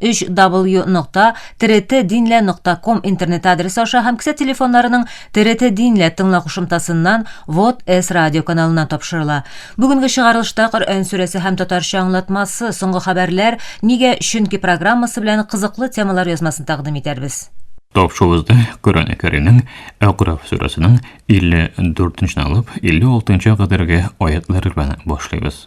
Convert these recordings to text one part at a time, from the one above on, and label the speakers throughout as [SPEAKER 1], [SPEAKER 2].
[SPEAKER 1] 3w нокта трт динлә нокта ком интернет адресы аша һәм кесә телефоннарының трт динлә тыңла кушымтасыннан вот с радио каналына тапшырыла. Бүгенге чыгарылышта Коръән сүрәсе һәм татарча аңлатмасы, соңгы хәбәрләр, нигә, чөнки программасы белән кызыклы темалар язмасын тәкъдим итәрбез. Тапшыгызда
[SPEAKER 2] Коръән Кәримнең Әкраф сүрәсенең 54 нче алып 56 нчы кадәрге аятлар белән башлыйбыз.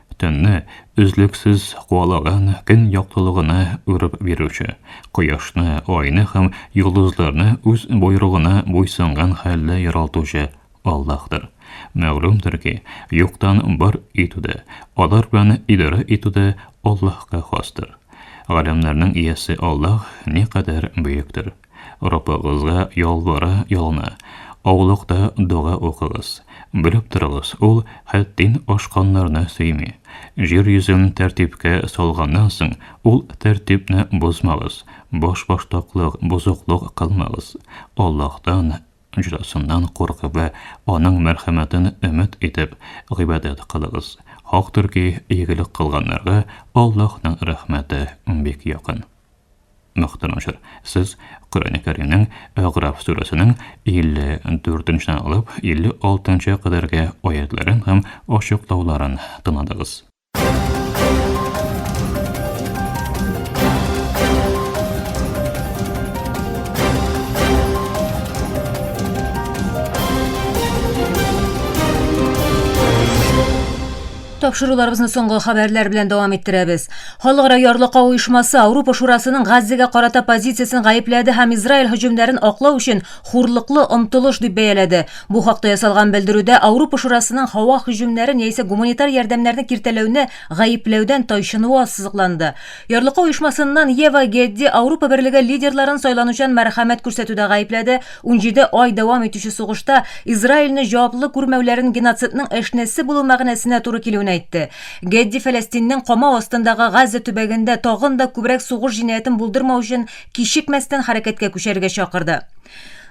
[SPEAKER 2] Төнне өзлексез куалаган көн яктылыгына үреп бирүче, кояшны, айны һәм йолдызларны үз боерыгына буйсынган хәлдә яралтучы Аллаһтыр. Мәгълүмдер ки, юктан бар итү дә, алар белән идарә итү дә Аллаһка хастыр. Галәмнәрнең иясе Аллаһ никадәр бөектер! Раббыгызга ялвара-ялына, аулакта дога укыгыз. Белеп торыгыз, ул хәттин ашканнарны сөйми. Җир йөзен тәртипкә салганнан соң, ул тәртипне бозмагыз, башбаштаклык, бозыклык кылмагыз. Аллаһтан, җәзасыннан куркып вә аның мәрхәмәтен өмет итеп, гыйбадәт кылыгыз. Хактыр ки, игелек кылганнарга Аллаһның рәхмәте бик якын. Мөхтәрәм шер, сез Коръәне Кәримнең Әгъраф сүрәсенең 54 нче алып 56 нчы кадәрге аятьләрен һәм ачыклауларын тыңладыгыз.
[SPEAKER 1] Тапшыруларыбызны соңгы хәбәрләр белән дәвам иттерәбез. Халыкара ярлыкау оешмасы Ауропа шурасының Газзәгә карата позициясен гаепләде һәм Израиль һөҗүмнәрен аклау өчен хурлыклы омтылыш дип бәяләде. Бу хакта ясалган белдерүдә Ауропа шурасының һава һөҗүмнәрен яисә гуманитар ярдәмнәрне киртәләүне гаепләүдән тайчынуы ассызыкланды. Ярлыка оешмасыннан Ева Гедди Аурупа Берлеге лидерларын сайланучан мәрхәмәт күрсәтүдә гаепләде, унҗиде ай дәвам итүче сугышта Израильне җаваплы күрмәүләрен геноцидның әшнәсе булу мәгънәсенә туры килүен әйтте. Гедди Фәләстиннең камау астындагы Газза төбәгендә тагын да күбрәк сугыш җинаятен булдырмау өчен кичекмәстән хәрәкәткә күчәрергә чакырды.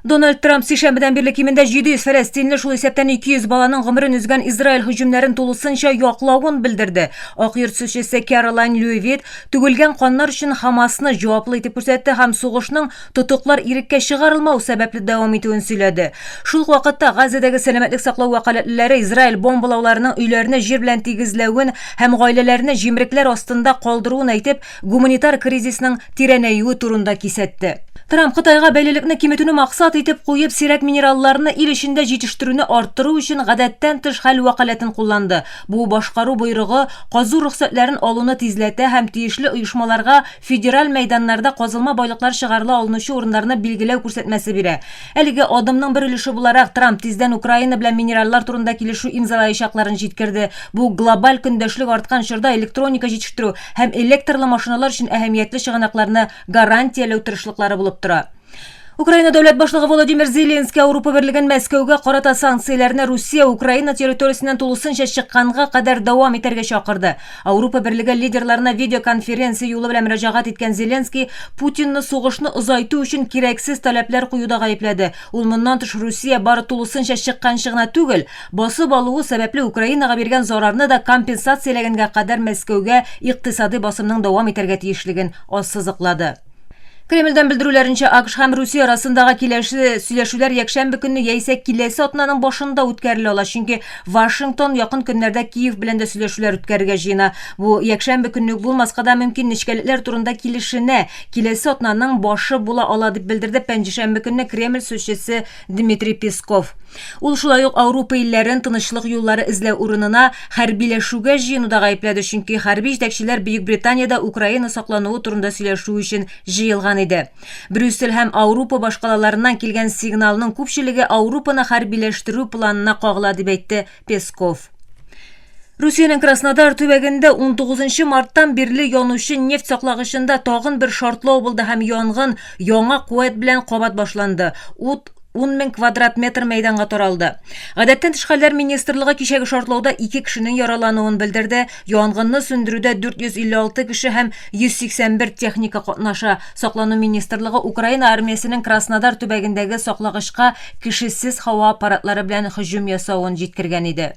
[SPEAKER 1] Дональд Трамп сишәмбедән бирле кимендә 700 фәләстинле, шул исәптән 200 баланың гомерен үзгән Израиль һөҗүмнәрен тулысынча яклавын белдерде. Ак йорт сүзчесе Кэролайн Льюивит түгелгән каннар өчен Хамасны җаваплы итеп күрсәтте һәм сугышның тотыклар иреккә чыгарылмау сәбәпле дәвам итүен сөйләде. Шул ук вакытта Газзадәге сәламәтлек саклау вәкаләтлеләре Израиль бомбалауларының өйләрне җир белән тигезләвен һәм гаиләләрне җимрекләр астында калдыруын әйтеп, гуманитар кризисның тирәнәюе турында кисәтте. Трамп Кытайга бәйлелекне киметүне максат итеп куеп, сирәк минералларны ил эчендә җитештерүне арттыру өчен гадәттән тыш хәл вәкаләтен кулланды. Бу башкару боерыгы казу рөхсәтләрен алуны тизләтә һәм тиешле оешмаларга федераль мәйданнарда казылма байлыклар чыгарыла алынучы урыннарны билгеләү күрсәтмәсе бирә. Әлеге адымның бер өлеше буларак, Трамп тиздән Украина белән минераллар турында килешү имзалаячакларын җиткерде. Бу глобаль көндәшлек арткан чорда электроника җитештерү, һәм электрлы машиналар өчен әһәмиятле чыганакларны гарантияләү тырышлыклары булып тора. Украина дәүләт башлыгы Володимир Зеленский Ауропа берлеген Мәскәүгә карата санкцияләрне Русия Украина территориясеннән тулысынча чыкканга кадәр дәвам итәргә чакырды. Ауропа берлеге лидерларына видеоконференция юлы белән мөрәҗәгать иткән Зеленский Путинны сугышны озайту өчен кирәксез таләпләр куюда гаепләде. Ул моннан тыш Русия бары тулысынча чыкканчы гына түгел, Басып алуы сәбәпле Украинага биргән зарарны да компенсацияләгәнгә кадәр Мәскәүгә икътисадый басымның дәвам итәргә тиешлеген ассызыклады. Кремльдән белдерүләренчә, АКШ һәм Русия арасындагы киләсе сөйләшүләр якшәмбе көнне яисә киләсе атнаның башында үткәрелә ала, чөнки Вашингтон якын көннәрдә Киев белән дә сөйләшүләр үткәрергә җыена. Бу якшәмбе көнне үк булмаска да мөмкин, нечкәлекләр турында килешенә, киләсе атнаның башы була ала, дип белдерде пәнҗешәмбе көнне Кремль сүзчесе Дмитрий Песков. Ул шулай ук Аурупа илләрен тынычлык юллары эзләү урынына хәрбиләшүгә җыенуда гаепләде, чөнки хәрби җитәкчеләр Бөекбританиядә Украина саклануы турында сөйләшү өчен җыелган иде. Брюссель һәм Аурупа башкалаларыннан килгән сигналның күпчелеге Аурупаны хәрбиләштерү планына кагыла, дип әйтте Песков. Русиянең Краснодар төбәгендә 19 марттан бирле янучы нефть саклагычында тагын бер шартлау булды һәм янгын яңа куәт белән кабат башланды. Ут 10 мең квадрат метр мәйданга таралды. Гадәттән тыш хәлләр министрлыгы кичәге шартлауда ике кешенең яралануын белдерде. Янгынны сүндерүдә 456 кеше һәм 181 техника катнаша. Саклану министрлыгы Украина армиясенең Краснодар төбәгендәге саклагычка кешесез һава аппаратлары белән һөҗүм ясавын җиткергән иде.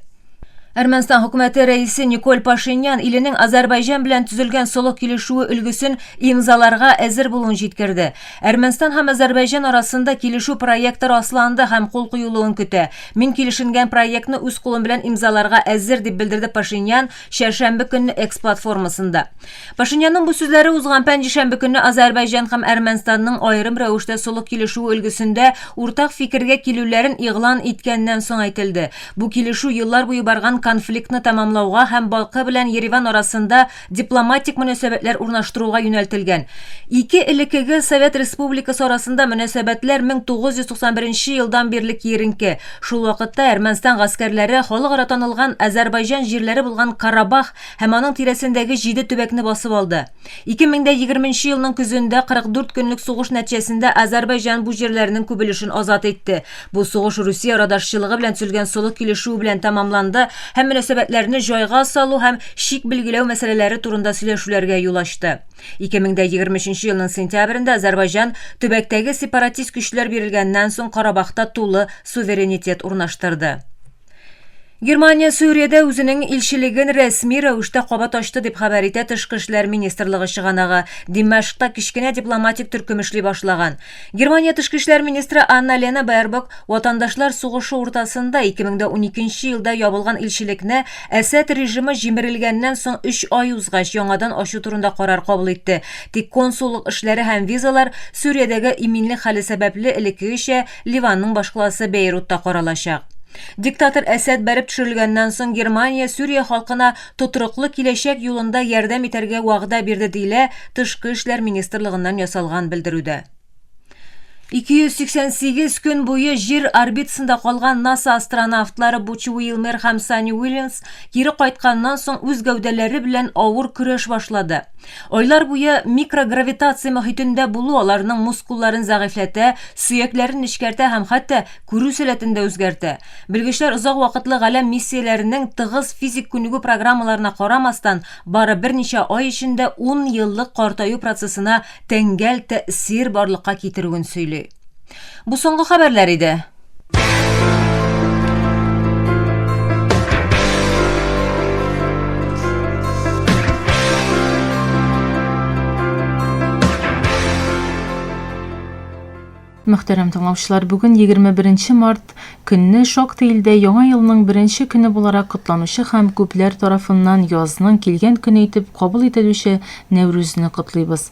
[SPEAKER 1] Әрмәнстан хөкүмәте рәисе Николь Пашинян иленең Азәрбайҗан белән төзелгән солых килешүе өлгесен имзаларга әзер булуын җиткерде. Әрмәнстан һәм Азәрбайҗан арасында килешү проекты расланды һәм кул куелуын көтә. Мин килешенгән проектны үз кулым белән имзаларга әзер, дип белдерде Пашинян чәршәмбе көнне Экс платформасында. Пашинянның бу сүзләре узган пәнҗешәмбе көнне Азәрбайҗан һәм Әрмәнстанның аерым рәвештә солых килешүе өлгесендә уртак фикергә килүләрен игълан иткәннән соң әйтелде. Бу килешү еллар буе барган конфликтны тәмамлауга һәм Балкы белән Ереван арасында дипломатик мөнәсәбәтләр урнаштыруга юнәлтелгән. Ике элеккеге Совет Республикасы арасында мөнәсәбәтләр 1991 елдан бирле киеренке. Шул вакытта Әрмәнстан гаскәрләре халыкара танылган Азәрбайҗан җирләре булган Карабах һәм аның тирәсендәге җиде төбәкне басып алды. 2020 елның көзендә 44 көнлек сугыш нәтҗәсендә Азәрбайҗан бу җирләрнең күп өлешен азат итте. Бу сугыш Русия радашчылыгы белән төзелгән солых килешүе белән тәмамланды һәм мөнәсәбәтләрне җайга салу һәм чик билгеләү мәсьәләләре турында сөйләшүләргә юл ачты. 2023 елның сентябрендә Азәрбайҗан төбәктәге сепаратист көчләр бирелгәннән соң Карабахта тулы суверенитет урнаштырды. Германия Сүриядә үзенең илчелеген рәсми рәвештә кабат ачты дип хәбәр итә Тышкы эшләр министрлыгы чыганагы. Димәшкта кечкенә дипломатик төркем эшли башлаган. Германия тышкы эшләр министры Анна-Лена Бербок ватандашлар сугышы уртасында 2012 елда ябылган илчелекне Әсәд режимы җимерелгәннән соң 3 ай узгач яңадан ачу турында карар кабул итте. Тик консуллык эшләре һәм визалар Сүриядәге иминлек хәле сәбәпле элеккегечә Ливанның башкаласы Бейрутта каралачак. Диктатор Әсәд бәреп төшерелгәннән соң Германия Сүрия халкына тотрыклы киләчәк юлында ярдәм итәргә вәгъдә бирде, диелә Тышкы эшләр министрлыгыннан ясалган белдерүдә. 288 көн буе Җир орбитасында калган НАСА астронавтлары Буч Уилмер һәм Санни Уильямс кире кайтканнан соң үз гәүдәләре белән авыр көрәш башлады. Айлар буе микрогравитация мохитендә булу аларның мускулларын зәгыйфьләтә, сөякләрен нечкәртә һәм хәтта күрү сәләтен дә үзгәртә. Белгечләр озак вакытлы галәм миссияләренең тыгыз физик күнегү программаларына карамастан, бары берничә ай эчендә ун еллык картаю процессына тәңгәл тәэсир барлыкка китерүен сөйли. Бу соңгы хәбәрләр иде.
[SPEAKER 3] Мөхтәрәм тыңлаучылар, бүген 21 март көнне шактый илдә яңа елның беренче көне буларак котланучы һәм күпләр тарафыннан язның килгән көне итеп кабул ителүче Нәүрүзне котлыйбыз.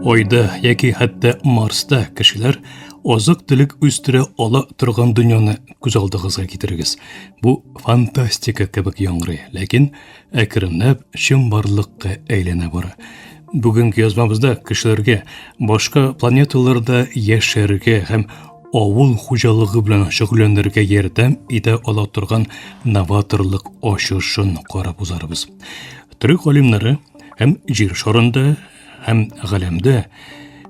[SPEAKER 4] Айда яки хәтта Марста кешеләр азык түлек үстерә ала торган дөньяны күз алдыгызга китерегез. Бу фантастика кебек яңгырый, ләкин әкренләп чын барлыкка әйләнә бара. Бүгенге язмабызда кешеләргә башка планеталарда яшәргә һәм авыл хуҗалыгы белән шөгыльләнергә ярдәм итә ала торган новаторлык ачышын карап узарбыз. Төрек галимнәре һәм җир шарында һәм галәмдә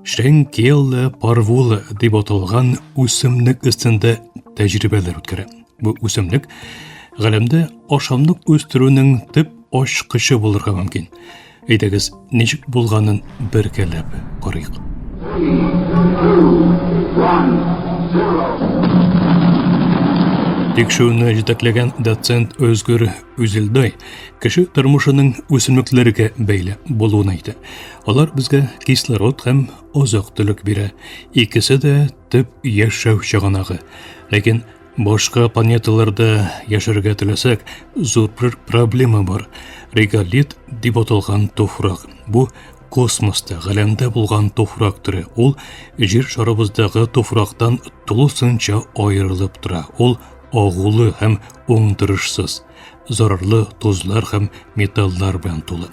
[SPEAKER 4] Шенкелла парвула дип аталган үсемлек өстендә тәҗрибәләр үткәрә. Бу үсемлек галәмдә ашамлык үстерүнең төп ачкычы булырга мөмкин. Әйдәгез, ничек булганын беркәләп карыйк. Тикшүне җитәкләгән доцент Өзгүр Үзелдай кеше тормышының үсемлекләргә бәйле булуын әйтә. Алар безгә кислород һәм азык-төлек бирә. Икесе дә төп яшәү чыганагы. Ләкин Башка планеталарда яшәргә теләсәк, зур бер проблема бар. Реголит дип аталган туфрак. Бу космоста, галәмдә булган туфрак төре. Ул җир шарыбыздагы туфрактан тулысынча аерылып тора. Ул агулы һәм уңдырышсыз. Зарарлы тозлар һәм металлар белән тулы.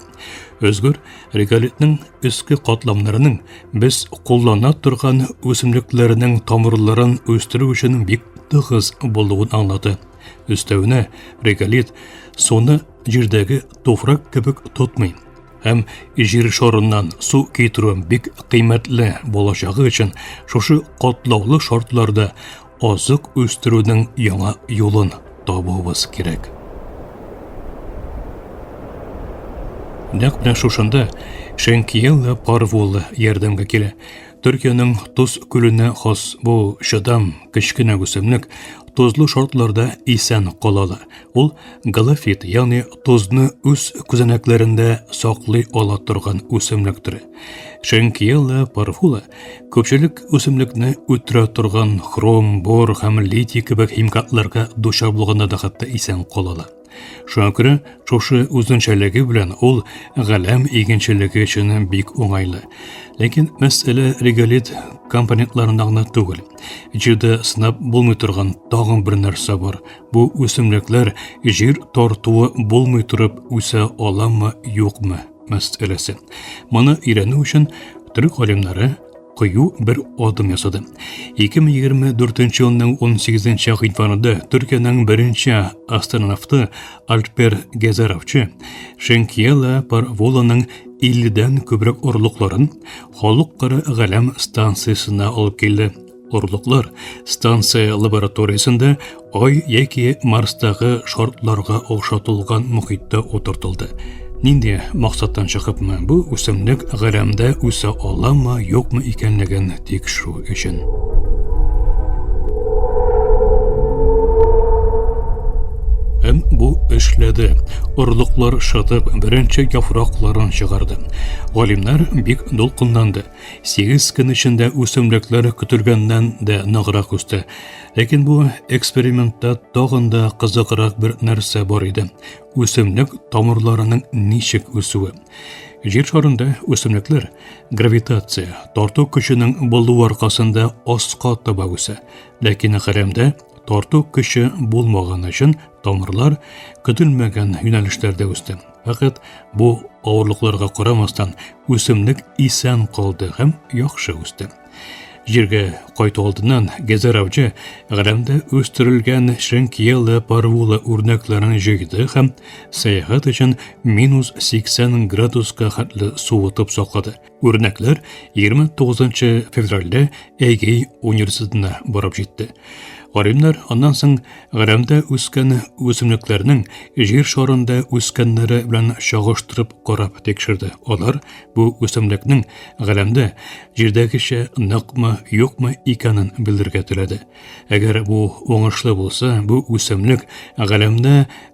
[SPEAKER 4] Өзгөр реголитның өске катламнарының без куллана торган үсемлекләрнең тамырларын үстерү өчен бик тыгыз булуын аңлады. Өстәвенә реголит суны җирдәге туфрак кебек тотмый һәм җир шарыннан су китерү бик кыйммәтле булачагы өчен шушы катлаулы шартларда азык үстерүнең яңа юлын табуыбыз кирәк. Нәкъ менә шушында Шенкиеллы Парвуллы ярдәмгә килә. Төркиянең Туз күленә хас бу чыдам кечкенә үсемлек тозлы шартларда исән кала ала. Ул галофит, ягъни тозны үз күзәнәкләрендә саклый ала торган үсемлек төре. Шенкиеллы Парвуллы Көпчелек үсемлекне үтерә торган хром, бор һәм литий кебек химикатларга дучар булганда да хәтта исән калалар. Шуңа күрә шушы үзенчәлеге белән ул галәм игенчелеге өчен бик уңайлы. Ләкин мәсьәлә реголит компонентларында гына түгел. Җирдә сынап булмый торган тагын бер нәрсә бар. Бу үсемлекләр җир тартуы булмый торып үсә аламы, юкмы? мәсьәләсе. Моны өйрәнү өчен төрек галимнәре кыю бер адым ясады. 2024 елның 18 гыйнварында Төркиянең беренче астронавты Альпер Гезаровчы Шенкиела Парволаның 50 дән күбрәк орлыкларын халыкара галәм станциясенә алып килде. Орлыклар станция лабораториясендә Ай яки Марстагы шартларга охшатылган мөхиттә утыртылды. Нинди максаттан чыгыпмы бу үсемлек галәмдә үсә аламы, юкмы икәнлеген тикшерү өчен. Һәм бу эшләде. Орлыклар шытып, беренче яфракларын чыгарды. Галимнәр бик дулкынланды. Сигез көн эчендә үсемлекләр көтелгәннән дә ныграк үсте. Ләкин бу экспериментта тагын да кызыграк бер нәрсә бар иде. Үсемлек тамырларының ничек үсүе. Җир шарында үсемлекләр гравитация, тарту көченең булу аркасында аска таба үсә. Ләкин хәрәмдә тарту көче булмаган өчен тамырлар көтелмәгән юнәлешләрдә үсте. Фәкать бу авырлыкларга карамастан үсемлек исән калды һәм яхшы үсте. Җиргә кайту алдыннан Гезер авчы Гәләмдә үстерелгән шенкиелы парвулы үрнәкләрен җыйды һәм сәяхәт өчен минус 80 градуска хәтле суытып саклады. Үрнәкләр 29 февральдә Әйгей университетына барып җитте. Гаримнәр аннан соң Гарәмдә үскән үсемлекләрнең җир шарында үскәннәре белән чагыштырып карап тикшерде. Алар бу үсемлекнең Гарәмдә җирдәгечә ныкмы, юкмы икәнен белергә теләде. Әгәр бу уңышлы булса, бу үсемлек Гарәмдә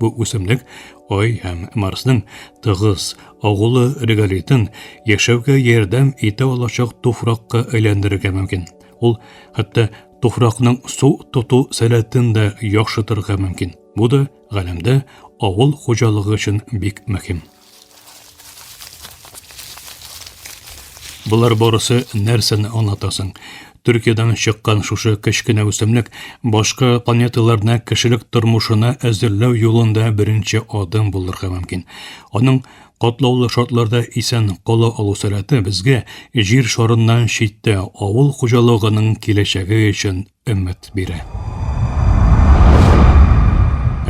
[SPEAKER 4] Бу үсемлек Ай һәм Марсның тыгыз агулы реголитын яшәүгә ярдәм итә алачак туфракка әйләндерергә мөмкин. Ул хәтта туфракның су тоту сәләтен дә яхшытырга мөмкин. Бу да галәмдә авыл хуҗалыгы өчен бик мөһим. Болар барысы нәрсәне аңлатасың? Төркиядән чыккан шушы кечкенә үсемлек башка планеталарны кешелек тормышына әзерләү юлында беренче адым булырга мөмкин. Аның катлаулы шартларда исән кала алу сәләте безгә җир шарыннан читтә авыл хуҗалыгының киләчәге өчен өмет бирә.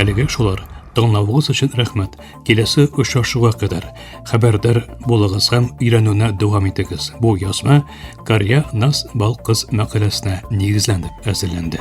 [SPEAKER 4] Әлегә шулар. Тыңлавыгыз өчен рәхмәт. Киләсе очрашуга кадәр хәбәрдар булыгыз һәм өйрәнүне дәвам итегез. Бу язма Карья Нас Балкыз мәкаләсенә нигезләнеп әзерләнде.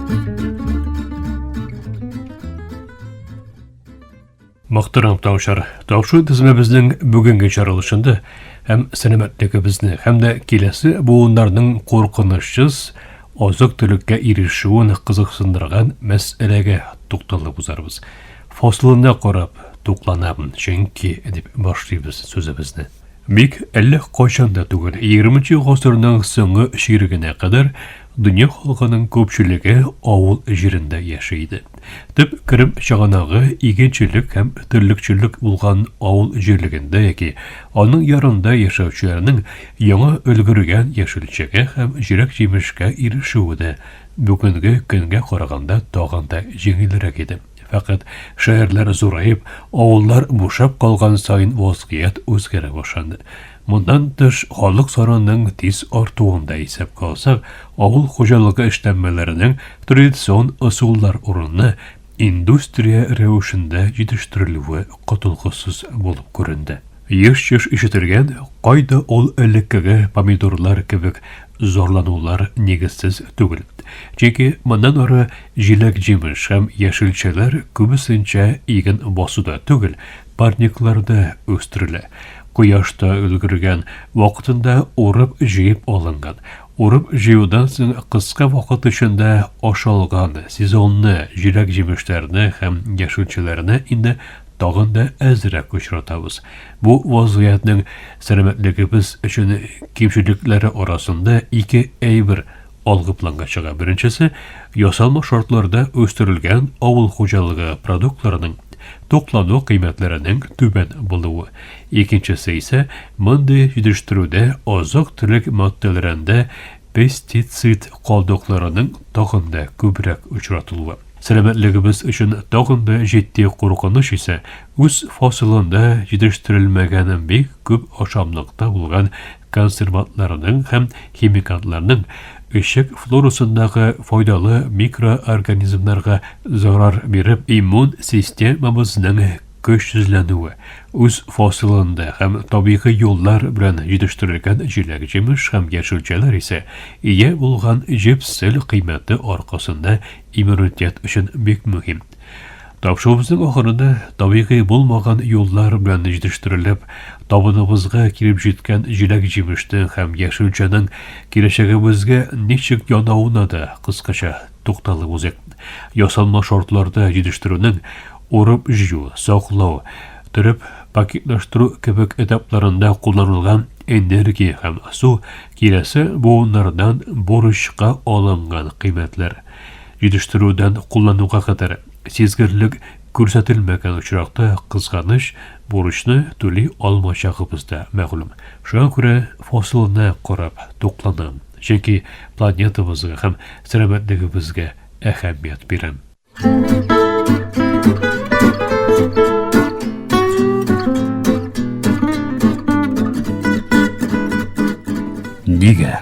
[SPEAKER 4] Мактырам тавшар. Тавшу тезмәбезнең бүгенге чаралышында һәм сәламәтлегебезне һәм дә киләсе буыннарның куркынычсыз азык төлеккә ирешүен кызыксындырган мәсьәләгә тукталып узарбыз. Фасылына карап тукланабыз, чөнки дип башлыйбыз сүзебезне. Бик әллә кайчан да түгел, егерменче гасырның соңгы чирегенә кадәр дөнья халкының күпчелеге авыл җирендә яши иде. Төп керем чыганагы игенчелек һәм терлекчелек булган авыл җирлегендә яки аның ярында яшәүчеләрнең яңа өлгергән яшелчәгә һәм җиләк-җимешкә ирешүе дә бүгенге көнгә караганда тагын да җиңелрәк иде. Фәкать шәһәрләр зураеп, авыллар бушап калган саен вазгыять үзгәрә башланды. Моннан тыш, халык санының тиз артуын да исәпкә алсак, авыл хуҗалыгы эшләнмәләренең традицион ысуллар урынына индустрия рәвешендә җитештерелүе котылгысыз булып күренде. Еш-еш ишетелгән, кайда ул элеккеге помидорлар кебек зарланулар нигезсез түгел. Чөнки моннан ары Җиләк-җимеш һәм яшелчәләр күбесенчә иген басуда түгел, парникларда үстерелә. Кояшта өлгергән, вакытында урып-җыеп алынган. Урып-җыюдан соң кыска вакыт эчендә ашалган, сезонны җиләк-җимешләрне һәм яшелчәләрне инде тагын да әзрәк очратабыз. Бу вазгыятьнең сәламәтлегебез өчен кимчелекләре арасында ике әйбер Алгы планга чыга беренчесе, ясалма шартларда үстерелгән авыл хуҗалыгы продуктларының
[SPEAKER 5] туклану кыйммәтләренең түбән булуы. Икенчесе исә мондый җитештерүдә азык-төлек матдәләрендә пестицид калдыкларының тагын да күбрәк очратылуы. Сәламәтлегебез өчен тагын да җитди куркыныч исә үз фасылында җитештерелмәгән бик күп ашамлыкта булган консервантларның һәм химикатларның эчәк флорасындагы файдалы микроорганизмнарга зарар биреп, иммун системабызның көчсезләнүе, үз фасылында һәм табигый юллар белән җитештерелгән җиләк-җимеш һәм яшелчәләр исә ия булган җепсел кыйммәте аркасында иммунитет өчен бик мөһим. Тапшуыбызның ахырында табигый булмаган юллар белән җитештерелеп, табыныбызга килеп җиткән җиләк-җимешнең һәм яшелчәнең киләчәгебезгә ничек янавына да кыскача тукталып узыйк. Ясалма шартларда җитештерүнең урып-җыю, саклау, төреп пакетлаштыру кебек этапларында кулланылган энергия һәм су киләсе буыннардан бурычка алынган кыйммәтләр. Җитештерүдән куллануга кадәр сизгерлек күрсәтелмәгән очракта, кызганыч, бурычны түли алмаячагыбыз да мәгълүм. Шуңа күрә фасылына карап тукланам, чөнки планетабызга һәм сәламәтлегебезгә әһәмият бирәм.
[SPEAKER 2] Нигә?